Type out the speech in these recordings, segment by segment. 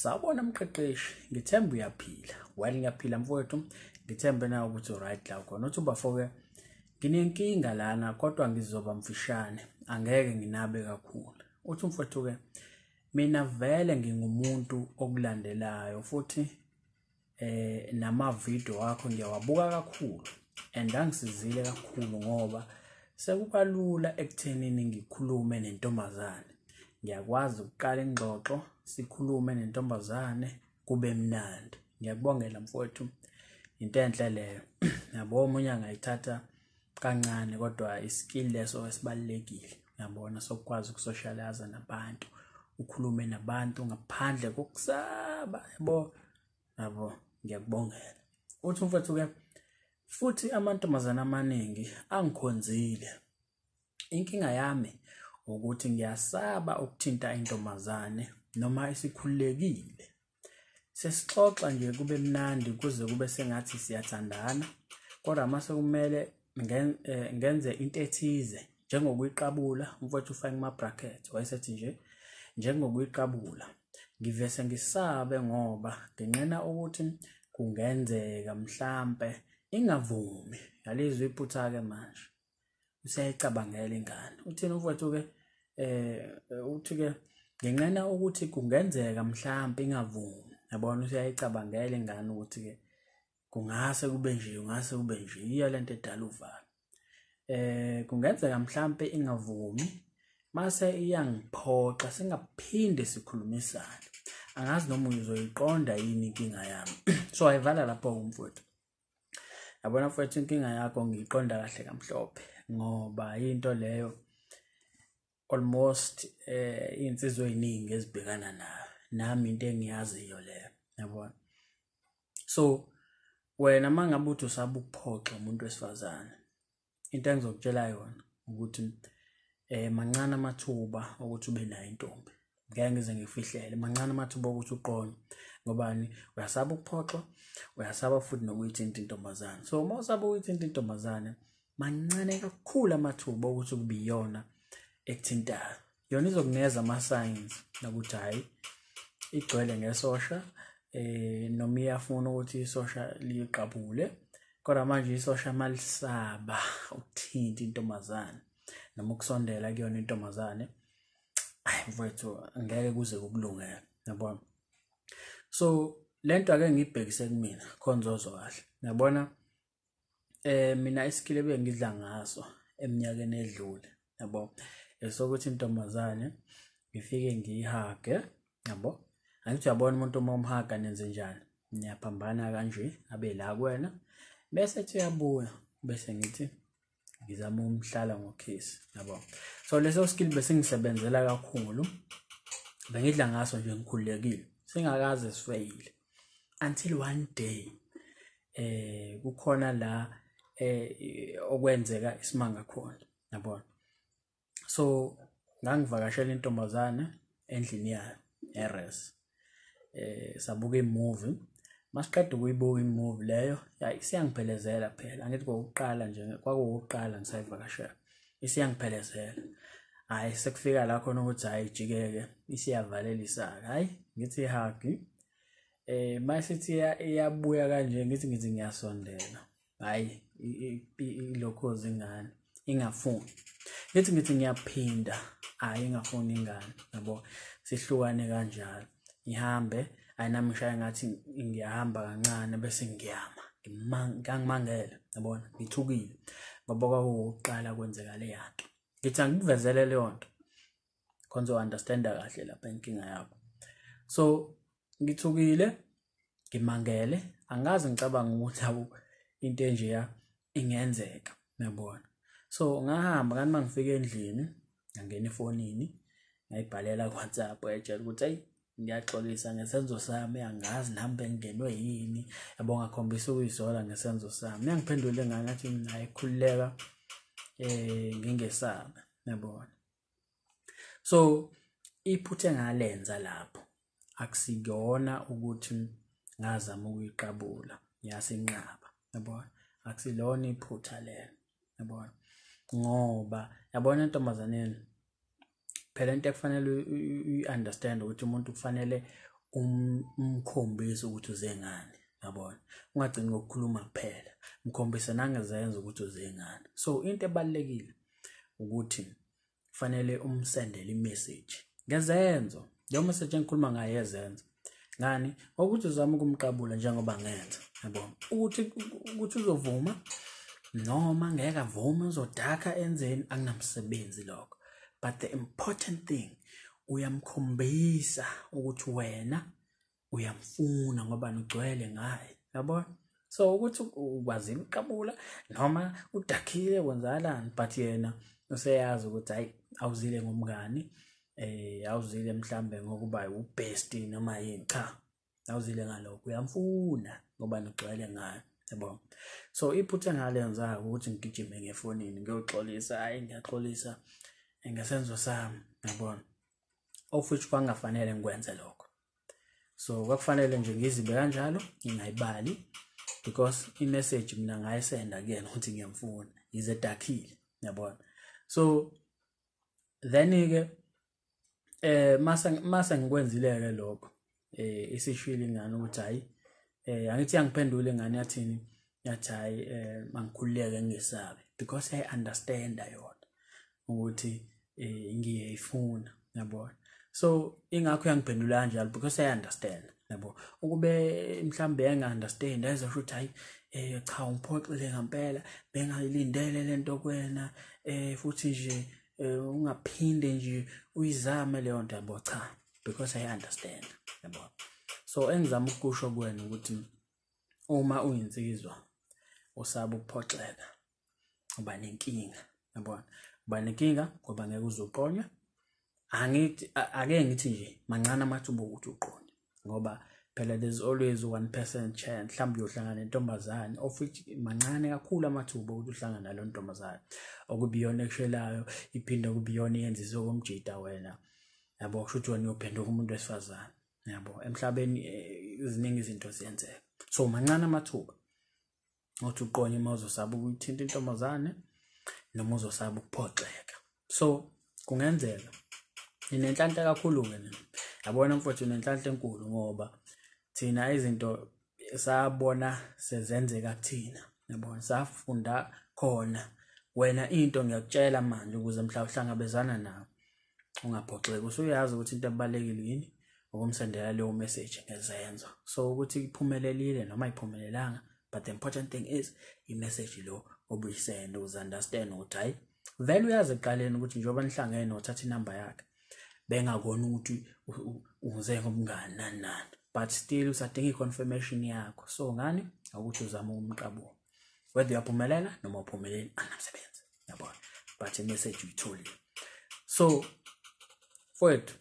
Sawubona mqeqeshi, ngithemba uyaphila. While ngiyaphila mfowethu, ngithembe nawe ukuthi uright la khona. Uthi ubafo-ke nginenkinga lana kodwa ngizoba mfishane, angeke nginabe kakhulu. Uthi umfowethu-ke mina vele ngingumuntu okulandelayo futhi eh namavideo wakho ngiyawabuka kakhulu and angisizile kakhulu ngoba sekukalula ekuthenini ngikhulume nentombazane ngiyakwazi ukuqala ingxoxo sikhulume nentombazane kube mnandi ngiyakubongela mfowethu into enhle leyo yabo omunye angayithatha kancane kodwa iskill leso esibalekile yabona sokwazi ukusocialize nabantu ukhulume nabantu ngaphandle kokusaba yabo yabo ngiyakubongela uthi umfethu ke futhi amantombazana amaningi angikhonzile inkinga yami ukuthi ngiyasaba ukuthinta intombazane noma isikhulekile sesixoxa nje kube mnandi kuze kube sengathi siyathandana kodwa uma sekumele eh, ngenze into ethize njengokuyiqabula umfowethu ufake kuma-bracket wayesethi nje njengokuyiqabula ngivese ngisabe ngoba nginqena ukuthi kungenzeka mhlampe ingavumi yalizwa iphutha-ke manje useyicabangela ingane uthini umfowethu ke eh uthi ke ngenqena ukuthi kungenzeka mhlawumbe ingavumi yabona useyicabangela ingane ukuthi ke kungase kube nje kungase kube nje yiyo lento edala uvalo eh kungenzeka mhlawumbe ingavumi mase iyangiphoxa singaphinde sikhulumisane angazi noma uzoyiqonda yini inkinga yami so ayivala lapho umfowethu yabona mfowethu inkinga yakho ngiyiqonda kahle kamhlophe ngoba into leyo almost eh insizwe eziningi ezibhekana nayo nami into engiyaziyo leyo yabona so wena mangabe uthi usaba ukuphoxa umuntu wesifazane into engizokutshela yona ukuthi eh mancane amathuba ukuthi ube nayo intombi ngeke ngize ngifihlele mancane amathuba okuthi uqonye ngobani uyasaba ukuphoxwa uyasaba futhi nokuyithinta intombazane so uma usaba ukuyithinta intombazane mancane kakhulu amathuba okuthi kubiyona ekuthintayo yona izokunikeza ama-signs nokuthi hhayi igcwele ngesosha eh noma iyafuna ukuthi isosha liqabule kodwa manje isosha malisaba ukuthinta intombazane noma ukusondela kuyona intombazane ayi mfowethu ngeke kuze kukulungele yabona so lento ake ngibhekise kumina khona uzozwa kahle yabona eh mina iskill ebengidla ngaso eminyakeni edlule yabo esokuthi intombazane ngifike ngiyihage yabo angithi uyabona umuntu uma umhaga nenze njani niyaphambana kanje abe la kuwena bese kuthi uyabuya bese ngithi ngizama umhlala ngokhisi yabo so leso skill besingisebenzela kakhulu bengidla ngaso nje ngikhululekile singakaze sifeyile until one day eh kukhona la eh okwenzeka isimanga khona yabona so ngangivakashela intombazane endlini yayo eres eh sabuka imovie masiqeda ukuyibuka imovie leyo isiyangiphelezela phela angithi kokuqala nje kwakuwukuqala ngisayivakashela isiyangiphelezela hayi sekufika la khona ukuthi hayi jikeke isiyavalelisa hayi ngithi hagi eh masithi iyabuya kanje ngithi ngithi ngiyasondela hhayi ilokhoza ingane ingafuni ngithi ngithi ngiyaphinda hhayi ingafuni ingane yabo sihlukane kanjalo ngihambe hhayi nami ngishaye ngathi ngiyahamba kancane bese ngiyama ngangimangele yabona ngithukile ngoba kwakuwukuqala kwenzeka leya nto ngithi angikuvezele leyo nto khona uzo-understanda kahle lapha inkinga yakho so ngithukile ngimangele angazi ngicabanga ukuthi awu into enjeya ingenzeka nabona so ngahamba kanti uma ngifika endlini ngangena efonini ngayibhalela kuwhatsapp etshela ukuthi ayi ngiyaxolisa ngesenzo sami angazi nami bengingenwe yini yabo ngakhombisa ukuyisola ngesenzo sami uyangiphendule ngani athi naye khululeka um ngingesabe nabona so iphutha engalenza lapho akusiyona ukuthi ngazama ukuyiqabula yasinqaba yabona akusilona iphutha lelo yabona ngoba yabona entombazaneni phela into ekufanele uyi-understand ukuthi umuntu kufanele um-, umkhombise ukuthi uze ngani yabona ungagcini ngokukhuluma kuphela mkhombise nangezenza ukuthi uze ngani so into ebalulekile ukuthi kufanele umsendele imessage ngezenzo leyo message engikhuluma ngayo yezenzo ngani ngokuthi uzama ukumqabula njengoba ngenza yabo ukuthi ukuthi uzovuma noma ngeke avume uzodaka enzeni akunamsebenzi lokho but the important thing uyamkhombisa ukuthi wena uyamfuna ngoba nigcwele ngaye yabona so ukuthi ukwazile ukuqabula noma udakhile kwenzakalani but yena useyazi ukuthi hayi awuzile ngomngani eh awuzile mhlambe ngokuba ubest noma yini cha awuzile ngalokho uyamfuna ngoba nigcwele ngayo yabo so iphutha engalenza ukuthi ngigijime ngefonini ngiyoxolisa hayi ngiyaxolisa ngesenzo sami yabona of which kwangafanele ngikwenze lokho so kwakufanele nje ngizibe kanjalo ngingayibali because imessage mina ngayisenda kuyena ukuthi ngiyamfuna yize dakhile yabona so then-ke eh mase mase ngikwenzile-ke lokho eh isishwile ingane ukuthi hayi eh angithi yangiphendula ingane yathini yathi hayi eh mangikhululeke ngisabe because i understand yona ukuthi eh ngiyayifuna yabona so ingakho yangiphendula kanjalo because i understand yabo ukube mhlambe enga understand ayizosho ukuthi hayi eh cha ungiphoxile ngempela bengayilindele lento kwena eh futhi nje eh, ungaphinde nje uyizame leyo nto yabo cha because i understand yabo so engizama ukusho kuwena ukuthi uma uyinsizwa usaba ukuphoxeka uba nenkinga yabona uba nenkinga ngoba ngeke uzoqonywa angithi ake ngithi nje mancane amathuba okuthi uqonye ngoba phela there's always 1% chance mhlawumbe uyohlangana nentombazane of which mancane kakhulu amathuba ukuthi uhlangana nalo ntombazane okubiyona ekushelayo iphinde kubiyona yenza izokomjita wena yabo kusho ukuthi wena uyophenduka umuntu wesifazane yabo emhlabeni eh, iziningi izinto ziyenzeka so mancane amathuba ukuthi uqonye uma uzosaba ukuthinta intombazane noma uzosaba ukuphoxeka so kungenzeka ninenhlanhla kakhulu-ke nina yabona mfowethu nenhlanhla enkulu ngoba thina izinto sabona sezenzeka kuthina yabona safunda khona wena into ngiyakutshela manje ukuze mhla uhlangabezana nawo ungaphoxeki usuyazi ukuthi into ebalekile yini ukumsendela leyo message ngezenzo so ukuthi iphumelelile noma iphumelelanga but the important thing is i-message lo obuyisenda uze understand ukuthi hayi vele uyazi ekuqaleni ukuthi njengoba nihlangene wathatha inamba yakhe bengakona ukuthi uze ngomngani nani nani but still usadinga i-confirmation yakho so ngani akuthi uzama ukumqabula whether uyaphumelela noma uphumeleli anamsebenzi yabona but imessage uyitholile so mfowethu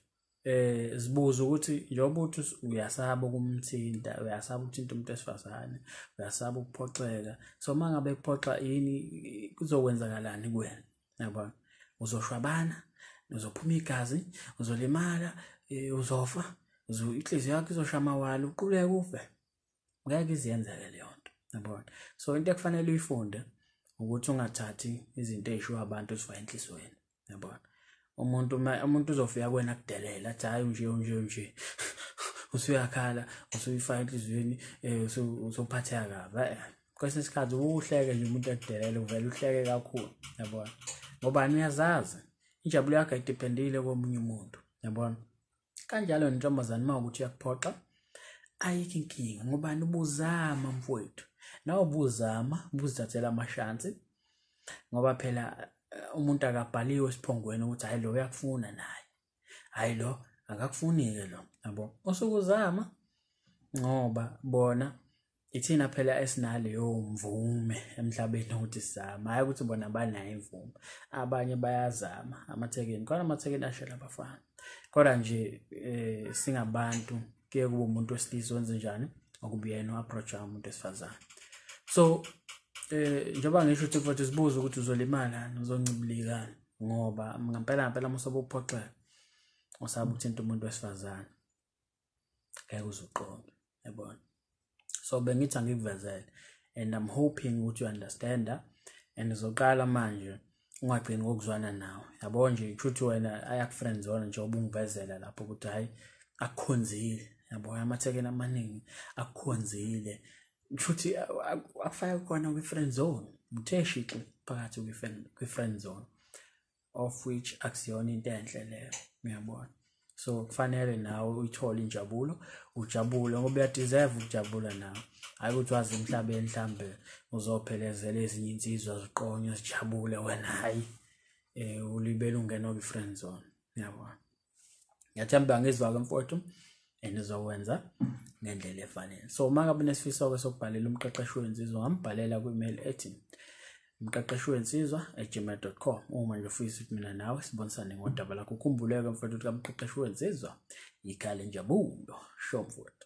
eh zibuza ukuthi njengoba uthi uyasaba ukumthinta uyasaba ukuthinta umuntu esifazane uyasaba ukuphoxeka so mangabe kuphoxa yini kuzokwenzakalani kuwena yabo uzoshwabana uzophuma igazi uzolimala eh, uzofa inhliziyo yakho izosha amawala uquleke ufe ngeke iziyenzeke leyo nto yabona so into ekufanele uyifunde ukuthi ungathathi izinto ezishiwo abantu ezifaka enhlizweni yabona umuntu umuntu uzofika kuwena kudelela athi hayi nje nje nje usuyakhala usuyifaka enhlizweni eh, usuphatheka kabi eh, kwesinye isikhathi uhleke nje umuntu ekudelele uvele uhleke kakhulu yabona ngobani uyazazi injabulo yakho idependile komunye umuntu yabona kanjalo nentombazane uma ukuthi uyakuphoxa ayikho inkinga ngobani ubuzama mfowethu nawe ubuzama ubuzithathela amashansi ngoba phela eh, umuntu akabhaliwe esiphongweni ukuthi hayi lo uyakufuna naye hayi lo akakufuni-ke lo yabo usuke uzama ngoba bona ithina phela esinaleyo mvume emhlabeni ukuthi sizama hhayi ukuthi bona banayo imvume abanye bayazama amathekeni khona amathekeni ashela abafana kodwa nje um singabantu kuye kuba umuntu wesilisa wenze njani okuba yena u-approacha umuntu wesifazane so um njengoba ngisho ukuthi futhi sibuze ukuthi uzolimala uzoncibilikani ngoba ngampela ngampela uma usobe uphoxeka usaba ukuthinta umuntu wesifazane ngeke uzuqonde yabona so bengithi angikuvezele and i'm hoping ukuthi u-understand and uzoqala manje ungagcini ngokuzwana nawe yabo nje kushuthi wena ayakufriends wona nje ubungivezela lapho ukuthi hhayi akukhonzile yabo amathekeni amaningi akukhonzile kushuthi akufake khona kwi-friend zone muthe shixi phakathi kwi-friend zone of which akusiyona into enhle leyo ngiyabona so kufanele nawe uyithole injabulo ujabule ngoba uyadeserve ukujabula nawe hayi ukuthi wazi emhlabeni mhlambe uzophelezela ezinye insizwa ziqonywe zijabule wena hayi um ulibele ungena kwi-friend zone ngiyabona ngiyathemba ngizwa-ke mfowethu and uzokwenza ngendlela efanele so uma ngabe nesifiso-ke sokubhalela umqeqeshi wensizwa ngambhalela kwi-email ethi umqeqeshi wensizwa egmail dot com uma nje ufisa ukuthi mina nawe sibonisane ngodaba lakho ukhumbuleke mfowethu ukuthi kamqeqeshi wensizwa yikhale njabulo sho mfowethu